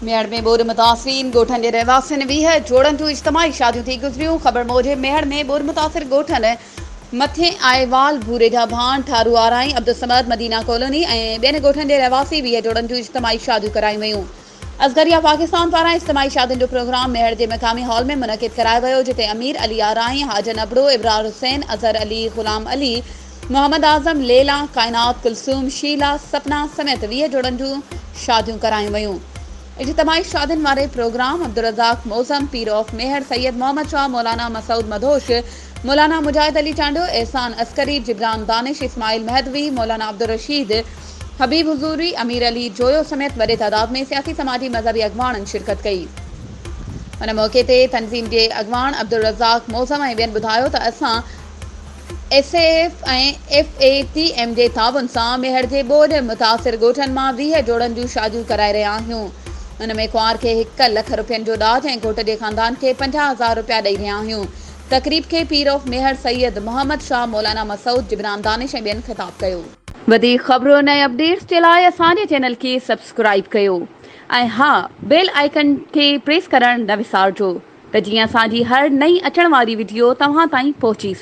ميهڙ ۾ ٻوڏ متاثرين ڳوٺن جي رهواسين ويهه جوڙن جون اجتماعي شاديون ٿي گذريون خبر موجب ميهڙ ۾ ٻوڏ متاثر ڳوٺن مٿين آئيوال ڀوري جا ڀان ٺارو آرائين عبدالصمد مدينه ڪالوني ۽ ٻين ڳوٺن جي رهواسي ويهه جوڙن جون اجتماعي شاديون ڪرايون ويون اصغر يا پاڪستان پاران اجتماعي شادين جو پروگرام ميهڙ جي مقامي هال ۾ منعقد ڪرايو ويو جتي امير علي آرائين، حاجن ابڙو، ابرار حسين، اظهر علي، غلام علي، محمد اعظم، ليلا، ڪائنات، ڪلثوم، شيلا، سپنا سميت ويهه جوڙن جون شاديون ڪرايون ويون. اجتماعي شادين واري پروگرام عبدالرزاق معظم، پير آف ميهڙ، سيد محمد شاهه، مولانا مسعود مدهوش، مولانا مجاهد علي چانڊيو، احسان عسڪري، جبران دانش، اسماعيل مهدوي، مولانا عبدالرشيد، حبيب حضوري، امير علي جويو سميت وڏي تعداد ۾ سياسي سماجي مذهبي اڳواڻن شرڪت ڪئي. ان موقعي تي تنظيم جي اڳواڻ عبدالرزاق معظم ۽ ٻين ٻڌايو ته اسان S A F ۽ F A T M جي تعاون سان ميهڙ جي ٻوڏ متاثر ڳوٺن مان ويهه جوڙن جون شاديون ڪرائي رهيا آهيون ان ۾ ڪنوار کي هڪ لک رپين جو ڏاج ۽ گهوٽ جي خاندان کي پنجاهه هزار رپيا ڏئي رهيا آهيون تقريب کي پير آف ميهڙ سيد محمد شاهه مولانا مسعود جبران دانش ۽ ٻين خطاب ڪيو. وڌيڪ خبرن ۽ اپڊيٽس جي لاء اسان جي چينل کي سبسڪرائيب ڪيو ۽ ها بيل آئيڪن کي پريس ڪرڻ نه وسارجو ته جيئن اسان جي هر نئين اچڻ واري وڊيو توهان تائين پهچي